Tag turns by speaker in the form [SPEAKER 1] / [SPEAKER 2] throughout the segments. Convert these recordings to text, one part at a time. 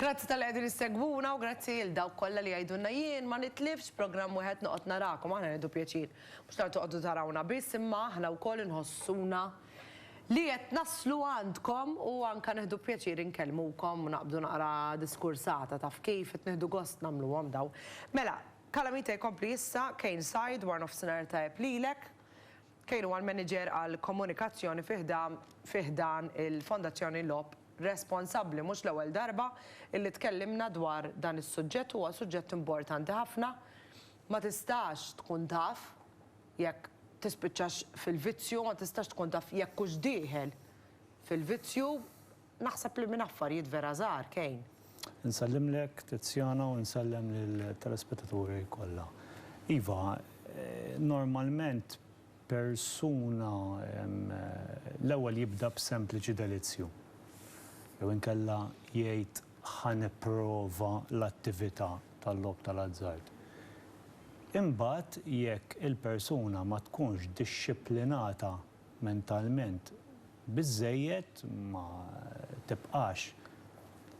[SPEAKER 1] Grazzi talli qegħdin issegwuna u grazzi lil dawk kollha li jgħidulna jien ma nitlifx programm wieħed noqgħod narakom, aħna nieħdu pjaċir mhux tant toqgħodu tarawna biss imma aħna wkoll inħossuna li qed naslu għandkom u anke nieħdu pjaċir inkellmukom u naqbdu naqra diskursata taf kif, qed nieħdu gost nagħmluhom dawn. Mela, Calamita jkompli issa, Kane Side, warnofsinhar tajjeb lilek. Kane huwa l-Maniġer għall-Komunikazzjoni fi ħdan fi ħdan il-Fondazzjoni Lob Responsabbli. Mhux l-ewwel darba illi tkellimna dwar dan is-suġġett, huwa suġġett importanti ħafna. Ma tistax tkun taf jekk tispiċċax fil-vizzju, ma tistax tkun taf jekk hux dieħel fil-vizzju Naħseb li minn affarijiet vera żgħar, Kane. Insellimlek,
[SPEAKER 2] Tiziana, u nsellem lill-telespettaturi kollha. Iva, normalment persuna l-ewwel jibda b'sempliċi delizzju, jew inkella jgħid ħa nipprova l-attività tal-logħob tal-azzard. Imbagħad jekk il-persuna ma tkunx dixxiplinata mentalment biżżejjed, ma tibqax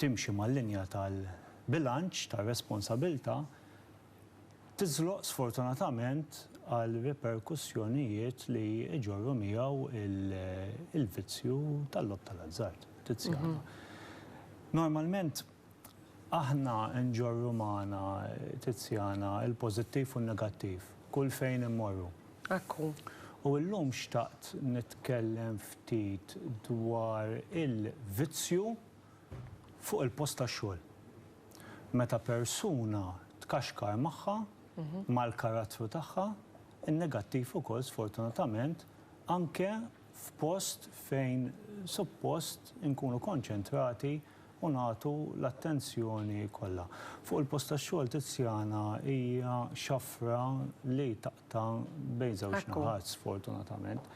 [SPEAKER 2] timxi mal-linja tal-bilanċ tar-responsabilità, tiżloq sfortunatament għal riperkussjonijiet li jġorru miegħu l-vizzju tal-logħob tal-azzard, Tiziana. Normalment, Aħna nġorru magħna, Tiziana, il-pożittiv u n-negattiv kull fejn immorru. Hekk hu.
[SPEAKER 1] U llum
[SPEAKER 2] xtaqt nitkellem ftit dwar il-vizzju fuq il-post tax-xogħol. Meta persuna tkaxkar magħha, mal-karattru tagħha, in-negattiv ukoll sfortunatament, anke f'post fejn suppost inkunu konċentrati u nagħtu l-attenzjoni kollha. Fuq il-post tax-xogħol Tiziana hija xafra li taqta' bejn żewġ naħat sfortunatament.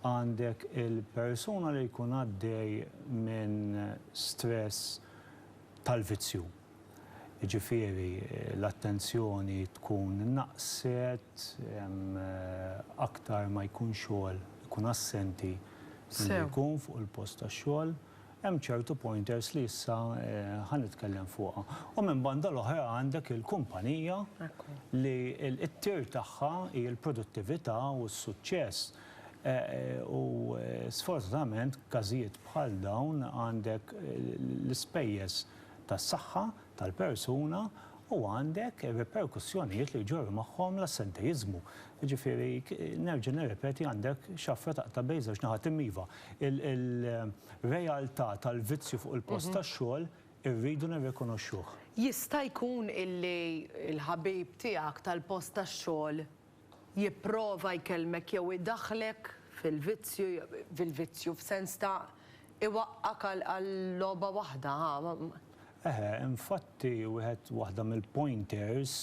[SPEAKER 2] Għandek il-persuna li jkun għaddej minn stress tal-vizzju. Jiġifieri l-attenzjoni tkun naqset, aktar ma jkun xogħol ikun assenti milli jkun fuq il-post tax-xogħol. Hemm ċertu pointers li issa ħa nitkellem fuqha. U minn banda l-oħra għandek il-kumpanija li t-tir tagħha hi l-produttività u s-suċċess. U sfortunatament każijiet bħal dawn għandek l-ispejjeż tas-saħħa tal-persuna u għandek ir-riperkussjonijiet li jġorru magħhom l-assentejiżmu. Jiġifieri, nerġa' nirrepeti għandek xafra taqta' bejn żewġ naħat. Imma iva, il-realtà tal-vizzju fuq il-post tax-xogħol irridu nirrikonoxxuh. Jista' jkun
[SPEAKER 1] illi l-ħabib tiegħek tal-post tax-xogħol jipprova jkellmek jew idaħħlek fil-vizzju, fil-vizzju f'sens ta' iwaqqgħek għal logħba waħda, ha, Eħe, infatti
[SPEAKER 2] wieħed waħda mill-pointers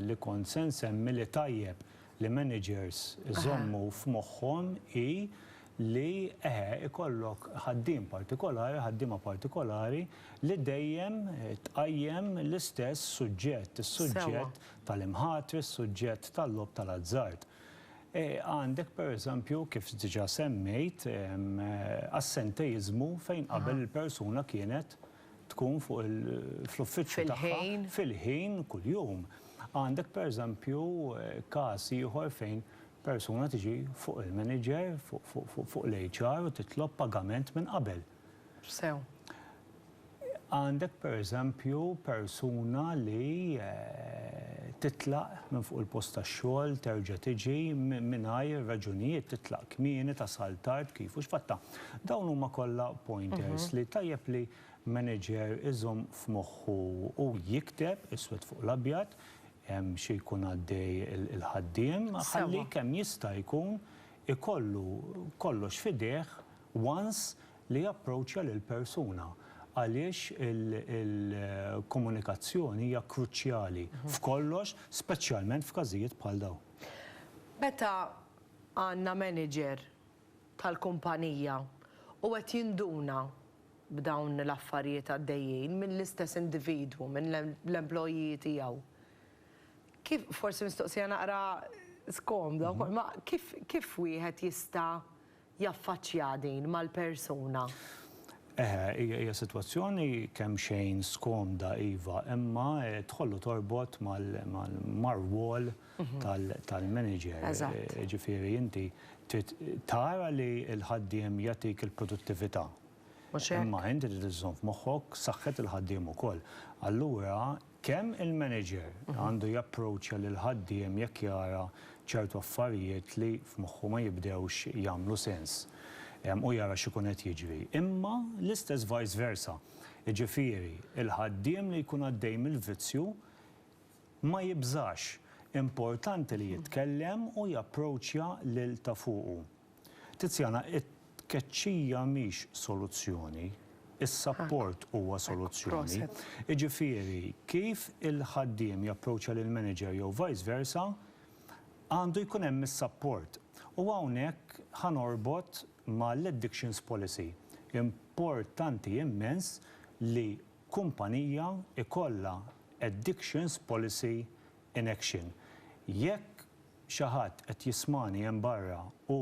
[SPEAKER 2] li kont se nsemmi li tajjeb li managers iżommu f'moħħhom hi li eħe, ikollok ħaddiem partikolari, ħaddiema partikolari li dejjem tqajjem l-istess suġġett, is-suġġett tal-imħatri, is-suġġett tal-logħob tal-azzard. Għandek pereżempju, kif diġà semmejt, assenteiżmu fejn qabel il-persuna kienet tkun fuq il, fl-uffiċċju tagħha. Fil-ħin. Fil-ħin kuljum. Għandek pereżempju każ ieħor fejn persuna tiġi fuq il-manager, fuq l-HR u titlob pagament minn qabel. Sew. Għandek pereżempju persuna li titlaq minn fuq il-post tax-xogħol, terġa' tiġi mingħajr raġunijiet, titlaq kmieni, tasal tard, kif u x'fattha. Dawn huma kollha pointers li tajjeb li manager iżomm f'moħħu u jikteb iswed fuq l-abjad xi jkun għaddej il-ħaddiem ħalli kemm jista' jkun ikollu kollox f'idejh once li japproċċja lill-persuna għaliex il-komunikazzjoni hija kruċjali f'kollox speċjalment f'każijiet bħal dawn. Meta
[SPEAKER 1] għandna manager tal-kumpanija u qed jinduna b'dawn l-affarijiet għaddejjin mill-istess individwu, minn l-employee tiegħu, kif, forsi mistoqsija naqra skomda wkoll, ma kif wieħed jista' jaffaċċja din mal-persuna? Eħe,
[SPEAKER 2] hija sitwazzjoni kemxejn skomda iva, imma tidħol u torbot mar-rwol tal-manager. Jiġifieri inti trid tara li l-ħaddiem jagħtik il-produttività. Imma inti trid iżżomm f'moħħok saħħet il-ħaddiem ukoll. Allura Kemm il-manager għandu japproċċja lill-ħaddiem jekk jara ċertu affarijiet li f'moħħu ma jibdewx jagħmlu sens u jara x'ikun qed jiġri, imma l-istess vice versa, jiġifieri l-ħaddiem li jkun għaddej mill-vizzju ma jibżax, importanti li jitkellem u japproċċja lil ta' fuqu. Tiziana, It-tkeċċija mhix soluzzjoni, is-sapport huwa soluzzjoni. Jiġifieri kif il-ħaddiem japproċċja lill-manager jew vice versa, għandu jkun hemm is-sapport. U hawnhekk ħa norbot mal-addictions policy. Importanti immens li kumpanija jkollha addictions policy in action. Jekk xi ħadd qed jismagħni hemm barra u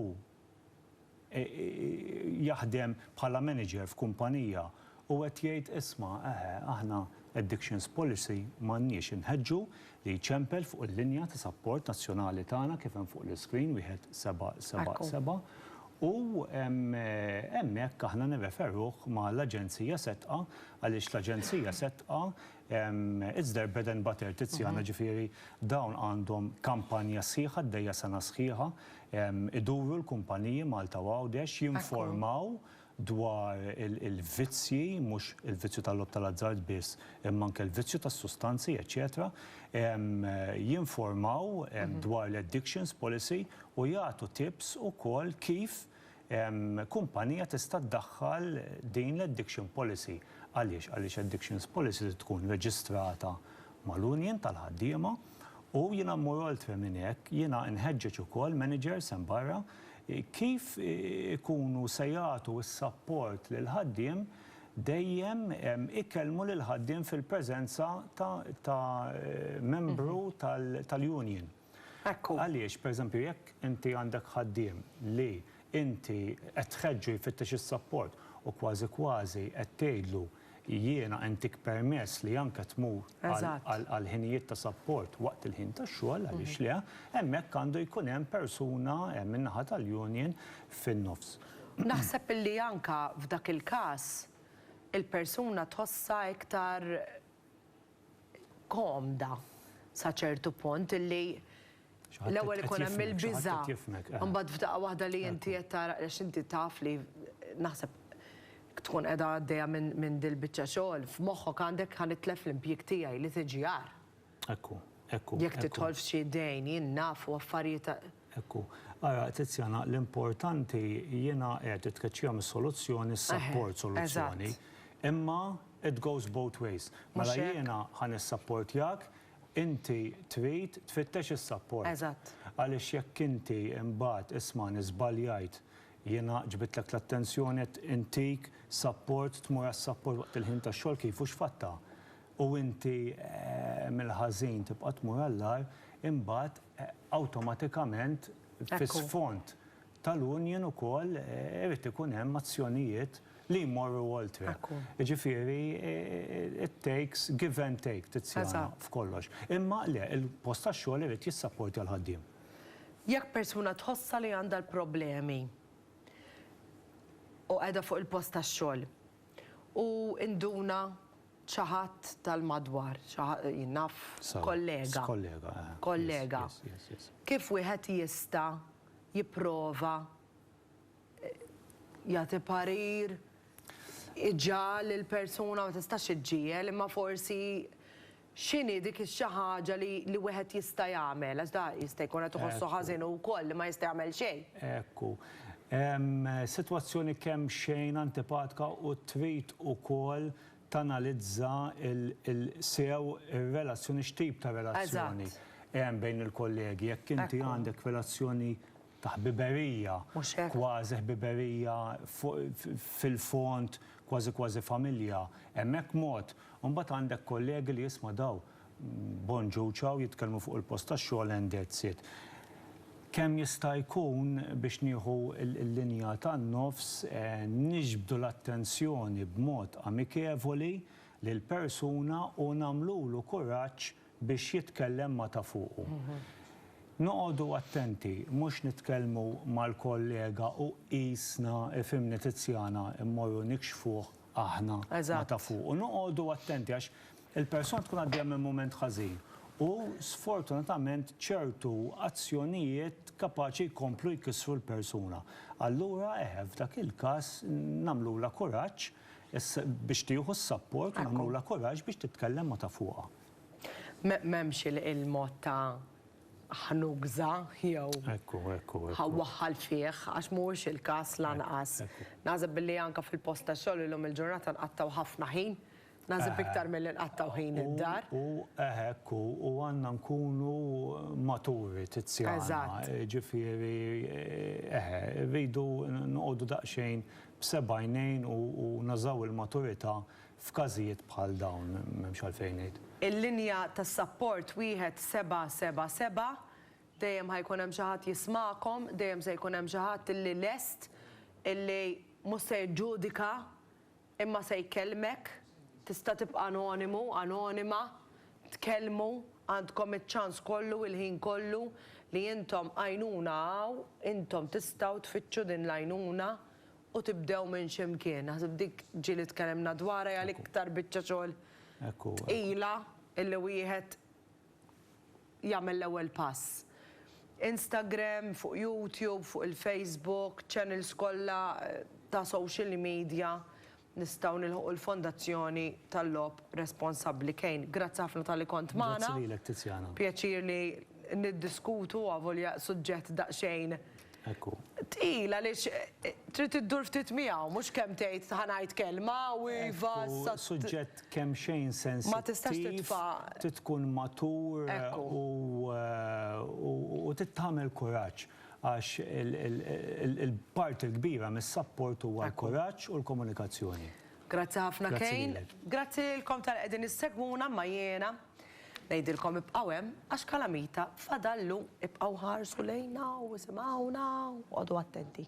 [SPEAKER 2] jaħdem bħala manager f'kumpanija u qed jgħid isma' eħe aħna addictions policy m'għandniex inħeġġu li jċempel fuq il-linja ta' sapport nazzjonali tagħna kif hemm fuq l-iscreen wieħed seba' seba' seba' u hemmhekk aħna nirreferuh ma' l-Aġenzija Setqa għaliex l-Aġenzija Setqa It's their bread and butter, Tiziana, ġifieri dawn għandhom kampanja sħiħa għaddejja sena sħiħa, iduru l-kumpaniji Malta u Għawdex, jinformaw dwar il-vizzji, mhux il-vizzju tal-logħob tal-azzard biss, imma anke l-vizzju tas-sustanzi, eċċetera, jinformaw dwar l-addictions policy u jagħtu tips ukoll kif kumpanija tista' ddaħħal din l-addiction policy. Għaliex? Għaliex addictions policy trid tkun reġistrata mal-union tal-ħaddiema u jiena mmur oltre minn hekk, jiena nħeġġeġ ukoll managers hemm barra kif ikunu se jagħtu s-sapport lill-ħaddiem dejjem ikellmu lill-ħaddiem fil-preżenza ta' membru tal-union. Ekku. Għaliex, pereżempju, jekk inti għandek ħaddiem li inti qed tħeġġu jfittex is-sapport u kważi kważi qed tgħidlu jiena intik permess li anke tmur għal ħinijiet ta' sapport waqt il-ħin tax-xogħol, għaliex le, hemmhekk għandu jkun hemm persuna min-naħa tal-union fin-nofs. Naħseb
[SPEAKER 1] illi anke f'dak il-każ il-persuna tħossha iktar komda sa ċertu punt li l-ewwel ikun hemm il-biża' mbagħad f'daqqa waħda li inti qed tara għax inti taf li naħseb tkun qiegħda għaddejja minn dil-biċċa xogħol f'moħħok għandek ħa nitlef l-impjieg tiegħi li tiġi agħar. Ekku,
[SPEAKER 2] ekku. Jekk tidħol
[SPEAKER 1] f'xi dejn jien naf u affarijiet Hekk hu.
[SPEAKER 2] Ara, Tiziana, l-importanti, jiena għedt, it-tkeċċija mhix soluzzjoni, is-sapport soluzzjoni. Imma it goes both ways. Mela jiena ħa nissapportjak, inti trid tfittex is-sapport. Għaliex
[SPEAKER 1] jekk inti
[SPEAKER 2] imbagħad ismagħni żbaljajt, jiena ġbidtlek l-attenzjoni qed intik sapport, tmur għas-sapport waqt il-ħin tax-xogħol kif hu x'fattha? U inti mill-ħażin tibqa' tmur għall-agħar, imbagħad, awtomatikament fis-sfond tal-union ukoll irid ikun hemm azzjonijiet li jmorru oltre. Jiġifieri it takes give and take Tiziana f'kollox. Imma le, il-post tax-xogħol irid jissapportja l-ħaddiem. Jekk
[SPEAKER 1] persuna tħossha li għandha l-problemi u qiegħda fuq il-post tax-xogħol, U induna xi ħadd tal-madwar, xi ħa-, jien naf Sawa, kollega. s-kollega, eh. Kollega. Yes, yes, yes, yes. Kif wieħed jista' jipprova jagħti parir, iġagħal il-persuna, ma tistax iġġiegħel, imma forsi X'inhi dik ix-xi ħaġa li li wieħed jista' jagħmel, għax da jista' jkun qed iħossu ħażin hu wkoll li ma jista' jagħmel xejn. Ekku.
[SPEAKER 2] Hemm sitwazzjoni kemxejn antipatka u trid ukoll tanalizza l l sew ir-relazzjoni x'tip ta' relazzjoni Eżatt. hemm bejn il-kollegi. Jekk inti Ekku. għandek relazzjoni ta' ħbiberija, kważi ħbiberija fil-fond kważi kważi familja, hemmhekk mod, u mbagħad għandek kollegi li isma' daw bon ġew ciao jitkellmu fuq il-post tax-xogħol and that's it. Kemm jista' jkun biex nieħu l-linja tan-nofs niġbdu l-attenzjoni b'mod amikevoli lill-persuna u nagħmlulu kuraġġ biex jitkellem ma' ta' fuqu. Noqogħdu attenti mhux nitkellmu mal-kollega u qisna, ifhimni Tiziana, immorru nikxfuh aħna ma' ta' fuqu. Noqogħdu attenti għax il-persuna tkun għaddejja minn mument ħażin u sfortunatament ċertu azzjonijiet kapaċi jkomplu jkissru l-persuna. Allura eħe, f'dak il-każ nagħmlulha kuraġġ biex tieħu s-sapport u nagħmlulha kuraġġ biex titkellem ma' ta' fuqha. M'hemmx
[SPEAKER 1] il-mod ta' ħnugża jew waħħal fih, għax mhuwiex il-każ lanqas. Naħseb billi anke fil-post tax-xogħol illum il-ġurnata nqattgħu ħafna ħin, naħseb iktar milli nqattgħu ħin id-dar. U hekk hu,
[SPEAKER 2] u għandna nkunu maturi Tiziana. Jiġifieri eħe, irridu noqogħdu daqsxejn b'sebgħajnejn u nużaw il-maturità F'każijiet bħal dawn m'hemmx għalfejn ngħid. Il-linja ta'
[SPEAKER 1] sapport wieħed seba' seba' seba', dejjem ħa jkun hemm xi ħadd jismagħkom, dejjem se jkun hemm xi ħadd illi lest illi mhux se jiġġudika imma se jkellmek, tista' tibqa' anonimu, anonima, tkellmu, għandkom iċ-ċans kollu, il-ħin kollu li intom għajnuna hawn, intom tistgħu tfittxu din l-għajnuna U tibdew minn xi mkien. Naħseb dik ġieli tkellimna dwarha hija l-iktar biċċa xogħol tqila illi wieħed jagħmel l-ewwel pass. Instagram, fuq YouTube, fuq il-Facebook, channels kollha ta' social media nistgħu nilħqu l-Fondazzjoni tal-Logħob Responsabbli Kane. Grazzi ħafna talli kont magħna. Grazzi lilek Tiziana.
[SPEAKER 2] Pjaċir li
[SPEAKER 1] niddiskutu avolja suġġett daqsxejn Tqil għaliex trid iddur ftit miegħu, mhux kemm tgħid ħa ngħid kelma u iva sa. Suġġett
[SPEAKER 2] kemxejn sensittiv. Ma tistax titfa'.
[SPEAKER 1] Trid tkun matur
[SPEAKER 2] u trid tagħmel kuraġġ għax il-parti l-kbira mis-sapport huwa l-kuraġġ u l-komunikazzjoni. Grazzi ħafna
[SPEAKER 1] Kane. Grazzi lilkom tal-li qegħdin issegwuna imma jiena. Ngħidilkom ibqgħu hemm għax kalamita fadallu, ibqgħu ħarsu lejna u isimgħuna u qogħdu attenti.